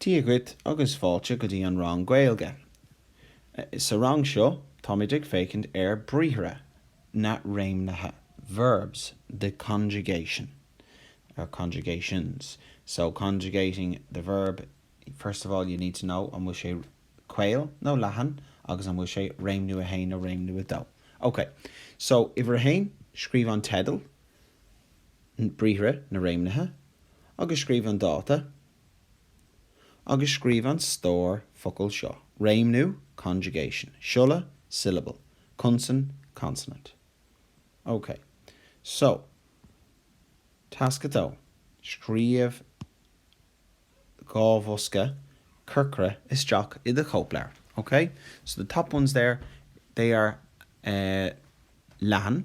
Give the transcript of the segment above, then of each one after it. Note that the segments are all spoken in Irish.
Dia dhuit agus fáilte go dtí an rang Gaeilge. Sa rang seo táimid ag féachaint ar bhriathra, na réimnithe, verbs, the conjugation, or conjugations. So, conjugating the verb, first of all you need to know an bhfuil sé caol nó leathan agus an bhfuil sé réimniú a haon nó réimniú a dó. Ok, so uimhir a haon, scríobh an teideal. briathra, na réimnithe, agus scríobh an dáta, agus scríobh an stór focal seo, réimniú, conjugation, siolla, syllable, consan, consonant. OK. So, tasc a dó, Scríobh dhá bhosca corcra isteach i do chóipleabhar. OK. So the top ones there, they are eh leathan.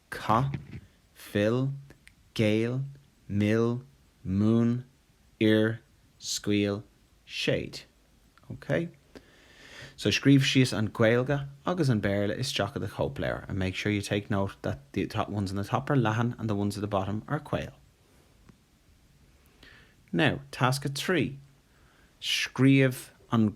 caith, fill, géill, mill, múin, oir, scaoil, séid. OK? So scríobh síos an Ghaeilge agus an Béarla isteach i do chóipleabhar and make sure you take note that the ones in the top are leathan and the ones at the bottom are caol. Now, tasc a trí, scríobh an.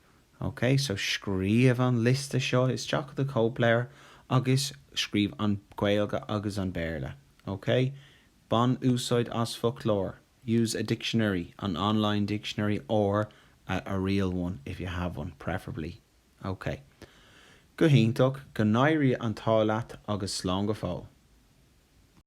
OK, so scríobh an liosta seo isteach i do chóipleabhar agus scríobh an Ghaeilge agus an Béarla. OK? Bain úsáid as foclóir, use a dictionary, an online dictionary or a a real one, if you have one, preferably. OK. Go hiontach, go n-éirí an t-ádh leat agus slán go fóill.